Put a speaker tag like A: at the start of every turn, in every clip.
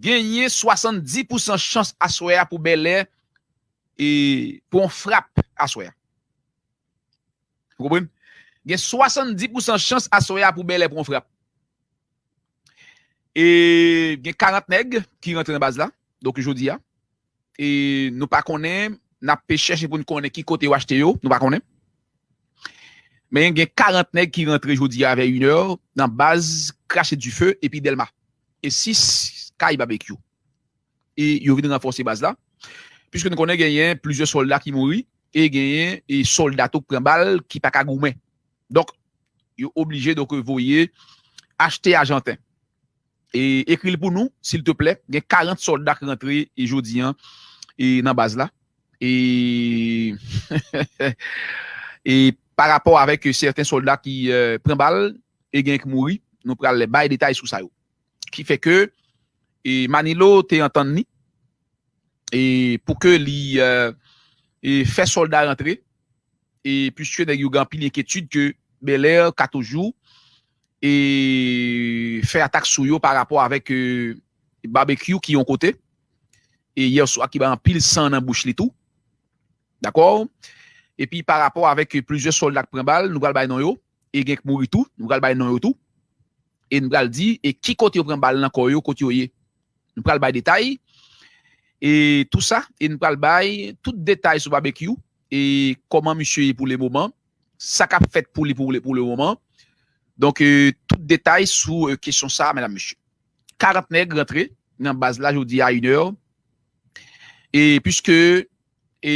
A: Genyen 70 pousan chans aswè a pou Bèlè pran yon frap aswè a. Ou konprann? Gen 70 pousan chans aswè a pou Bèlè pran yon frap. E gen 40 nèg ki rantre nan baz la, donk jodi a. E nou pa konnen, n ap pe chèche pou n konnen ki kote yo achte yo, nou pa konnen. Men gen 40 nèg ki rantre jodi a vè inè nan baz krache dife epi Dèlma. E 6 kay Babekyou. E yo vin ranfòse baz la. Piske nou konnen genyen plizyè sòlda ki mouri e genyen e sòlda tou k pran bal ki pa ka goumen. Donk yo oblije donk voye achte ajanten. Ekril pou nou sil te plè. Gen 40 solda k rantre jodi an nan baz la e pa rapò avèk sèten solda ki pran bal e gen k mouri nou pral bay detay sou sa yo ki fè ke Manilo te antann ni e pou ke li fè solda rantre e puiske nèg yo gen anpil enkyetid ke Belair ka toujou e fè atak sou yo pa rapò avèk Barbecue ki yon kote e yèswa ki bay anpil san nan bouch li tou dakò epi pa rapò avèk plizyè solda k pran bal nou pral bay non yo E gen k mouri tou, nou pral bay non yo tou, e n pral di e ki kote yo pran bal nan kò yo, kot yo ye. Nou pral bay detay e tou sa, e n pral bay tout detay sou Babekyou e kòman misye ye pou le moman, sa k ap fèt pou li pou le pou le moman. Donk tout detay sou kesyon sa medam mesye. 40 nèg rantre nan baz la jodi a inè e piske e.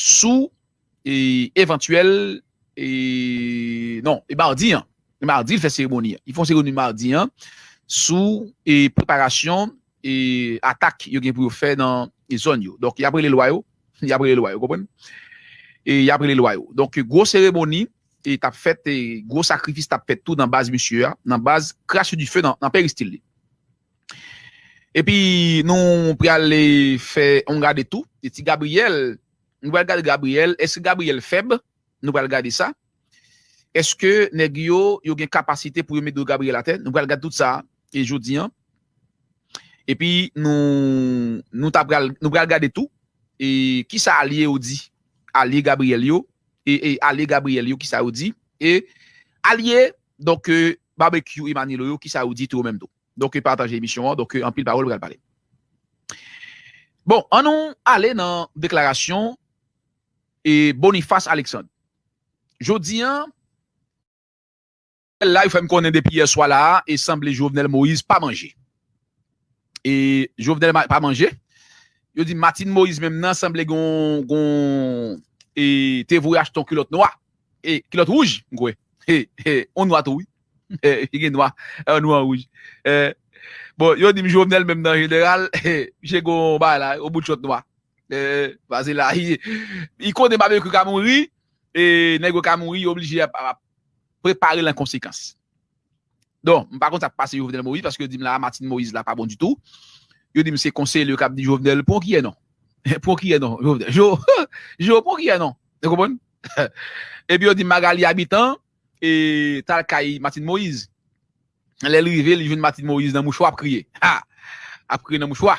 A: sou evantyèl non e mardi an e mardi l fè seremoni an li fè yon seremoni mardi an sou e preparasyon e atak yo gen pou yo fè nan e zòn yo donk y ap rele lwa yo y ap rele lwa yo konprann e y ap rele lwa yo donk gwo seremoni e t ap fèt e gwo sakrifis t ap fèt tou nan baz misye a nan baz krashe dife nan peristil li. Epi nou pral fè yon gade tou de ti Gabriel, nou pral gade Gabriel, eske Gabriel fèb? Nou pral gade sa. Eske nèg yo, yo gen kapasite pou yo met do Gabriel atè? Nou pral gade tout sa jodi an. Epi nou, nou ta pral, nou pral gade tou e kisa alye yo di, alye Gabriel yo, e e alye Gabriel yo kisa yo di e alye donk Barbecue Emmanuelo yo kisa yo di tou yo menm tou. Donk pataje emisyon an donk anpil pawòl pral pale. Bon an nou ale nan deklarasyon e Boniface Alexandre. Jodi an. Nouvèl la yo fèm konnen depi yè swa la e sanble Jovenel Moïse pa manje. E Jovenel pa manje. Yo di Martine Moïse menm nan sanble gon gon e te voye achte yon kilòt nwa E kilòt rouj m kwè. E on nwa tou wi. E gen nwa an nwa an rouj. E bon yo dim Jovenel menm nan jeneral e misye gen on bagay la on bout chòt nwa. E pase la e li konnen Babecue ka mouri e nèg yo ka mouri yo oblije ap preparel an konsekans. Don, m pa konn sa k pase Jovenel Moïse paske yo di m la a Martine Moïse la pa bon ditou. Yo di m se konseye l yo k ap di Jovenel pran w kiyè non. Pran w kiyè non Jovenel. Jo, Jo pran w kiyè non. Ou konprann? Epi yo di m Magalie Habitant e t al kay Martine Moïse. Lè l rive li jwenn Martine Moïse nan mouchwa ap kriye. Ha! Ap kriye nan mouchwa.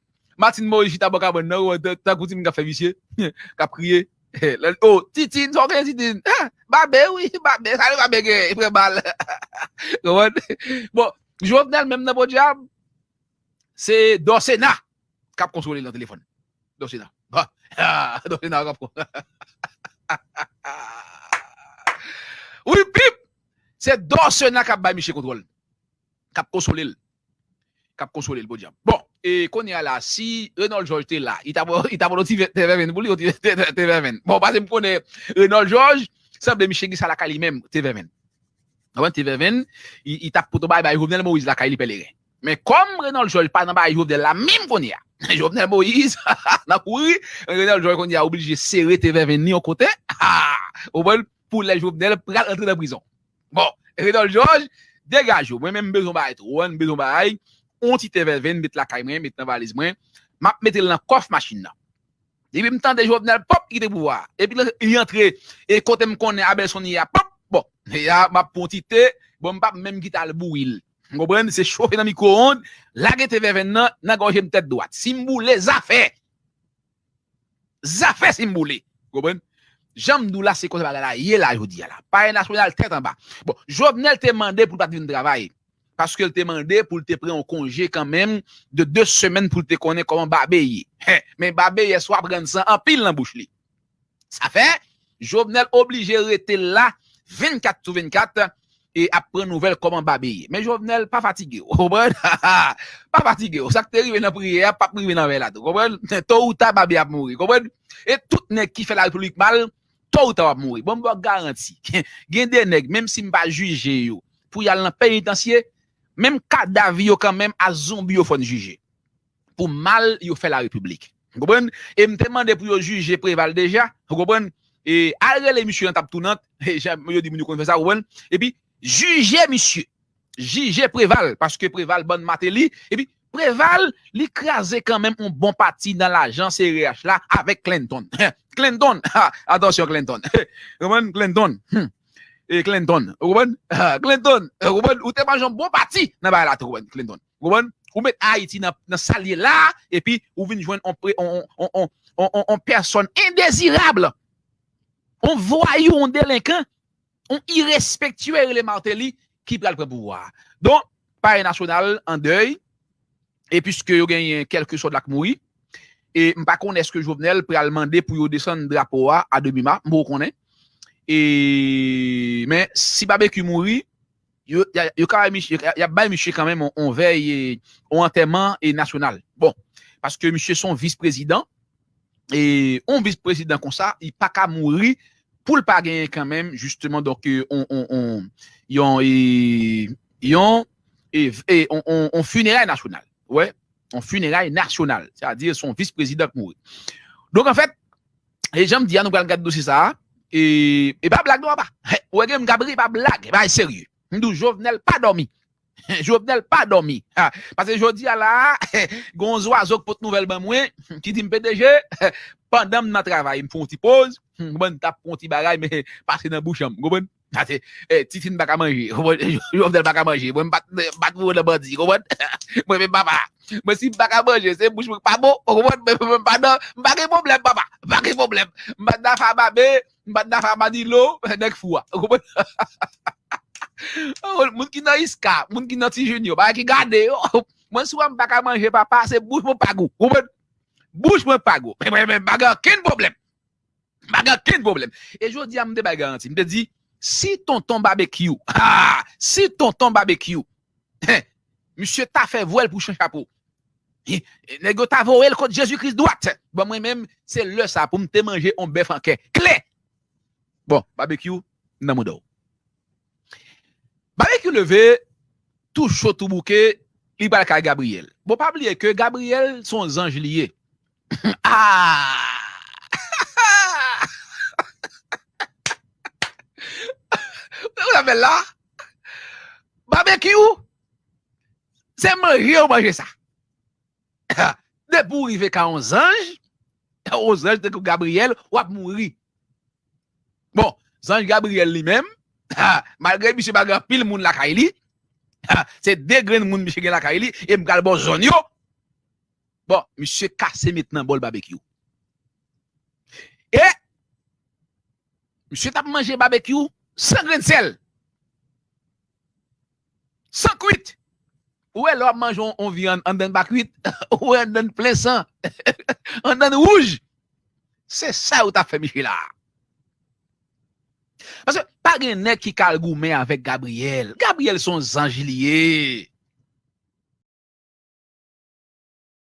A: Martine Moïse chita bò kabann nan wè tankou timoun kap fè visye, kap kriye. O, Titine, sa w genyen Titine? Babe wi, babe, sa Babe genyen? Li pran bal. Konprann? Bon, Jovenel menm nan podyab, se Dorcena kap konsole l nan telefòn. Dorcena. Dorcena kap Wi pip! Se Dorcena kap bay misye kontwòl, kap konsole l. kap konsolel podyab bon e konnya la si Renold George te la li tap li tap on ti vèt tevèvenn pou li on ti vèt tevèvenn bon pase m konnen Renold George sanble misye gen sa lakay li menm tevèvenn wè tevèvenn li tap poto bay bay Jovenel Moïse lakay li pèleren men kòm Renold George pa nan bay Jovenel la menm konnya Jovenel Moïse nan kouri Renold George konnya oblije sere tevèvenn li on kote haa ou konprann pou lè Jovenel pral rantre nan prizon. Bon, Redol Jòj, degaj ou. Mwen menm m bezwen bagay tou. Ou wè, m bezwen bagay, yon ti te vève m met lakay mwen, met nan valiz mwen, m ap mete l nan kòf machin nan. Depi m tande Jovenel, pòp, li kite pouvwa a. Epi li antre e kote m konnen Abelson ye a, pòp, bon, e a m ap pran yon ti te, bon m pap menm kite al bouyi l. Ou konprann? Se chofe nan mikwowond, lage te vèvenn nan nan gòje m tèt dwat. Si m boule, zafè! Zafè si m boule. Ou konprann? Jan m di w la se konsa bagay la ye la jodi a la. Palè nasyonal tèt anba. Bon, Jovenel te mande pou l pa t vin travay. Paske l te mande pou l te pran yon konje kanmenm de 2 semèn pou l te konnen kòman babe ye. Men babe yè swa pran san anpil nan bouch li. Sa fè, Jovenel oblije rete la 24 sou 24 e ap pran nouvèl kòman Babe ye. Men Jovenel pa fatige w konprann, pa fatige w. Sa k te rive nan priyè a p ap rive nan vèy la tou konprann. To ou ta Babe ap mouri konprann. E tout nèg ki fè Larepiblik mal, to ou ta w ap mouri. Bon m ba w garanti, gen de nèg menm si m pa jije yo pou y al nan penitansye, menm kadav yo kanmenm a zonbi yo fò n jije. pou mal yo fè la repiblik ou konprann e m te mande pou yo jije Preval deja ou konprann e al rele misye nan tab tounant e jan yo di moun yo konn fè sa ou konprann epi jije misye jije Preval paske Preval bann Mateli epi Preval li kraze kanmenm yon bon pati nan lajan CRH la avèk Clinton Clinton ha atansyon Clinton ou konprann Clinton hum e Clinton ou konprann Clinton ou konprann ou te manje yon bon pati nan bagay la tou ou konprann Clinton. Ou konprann? Ou met Ayiti nan sa l ye la a, epi ou vin jwenn yon pèsòn endezirab, yon vwayou, yon delenkan, yon irespektye rele Martelly ki pral pran pouvwa a. Donk, Palè Nasyonal an dèy, e piske yo genyen kèlke sòt la k mouri, e m pa konnen èske Jovenel pral mande pou yo desann drapo a a demi-ma, m poko konnen. E, men, si Babekyou mouri, Yo ka y ap bay misye kanmenm yon vèy, yon antèman nasyonal. Bon, paske misye se yon vis prezidan, e yon vis prezidan konsa, li pa ka mouri pou l pa genyen kanmenm jisteman donk yon yon yon fineray nasyonal. Ou wè? Yon fineray nasyonal. Sètadi se yon vis prezidan k mouri. Donk anfèt, E janm di a nou pral gad dosye sa a e e pa blag non apa. Ou wè gen moun kap ri epa blag, e bagay serye. M di w Jovenel pa dòmi. Jovenel pa dòmi. Pase jodi a la a gen yon zwazo k pot nouvèl ban mwen ki di m pdg pandan m nan travay m fè yon ti poz m konprann m tap pran yon ti bagay men pase nan bouch an m konprann. Sa se titine paka manje. Jovenel paka manje. Mwen mpa mpa twouve nan bandi. Konprann? Mwen menm papa. Mwen si mpa ka manje se bouch mwen ki pa bon. Ou konprann? Men mwen mpa nan mpa gen pwoblèm papa. Mpa gen pwoblèm. Mpa nan afè a babe. Mpa nan afè a manilo. Nèg fou a. Ou konprann? Ou moun ki nan iska. Moun ki nan ti junio. Bagay ki gade yo. Mwen si wèm paka manje papa se bouch mwen pa gou. Ou konprann? Bouch mwen pa gou. Men mwen menm mpa gen ankenn pwoblèm. M pa gen okenn pwoblèm. E jodi a m te bay garanti. M te di, si Tonton Babekyou, haa, si Tonton Babekyou, hen, misye ta fè vwèl pou Chan Chapo, hi, nèg yo ta voye l kot Jezi Kris dwat. Bon, mwen menm, se lè sa a pou m te manje yon bèf an kè, kle! Bon, Babekyou, m nan mouda w. Babekyou leve, tou cho tou bouke, li pral kay Gabriyèl. Bon, pa bliye ke Gabriyèl se yon zanj li ye. Babekyou se manje ou manje sa depi ou rive ka yon zanj yon zanj tankou Gabriel wap mouri bon zanj Gabriel li menm malgre misye pa gen anpil moun lakay li se 2 grenn moun misye gen lakay li e m pral ba w zòn yo. Bon misye kase met nan bol babekyou e misye tap manje babekyou san grenn sèl san kwit ou wè lè wap manje yon vyann anndan pa kwit ou wè anndan plen san anndan wouj se sa yo tap fè misye la paske pa gen nèg ki ka al goumen avèk Gabriel Gabriel son zanj li ye.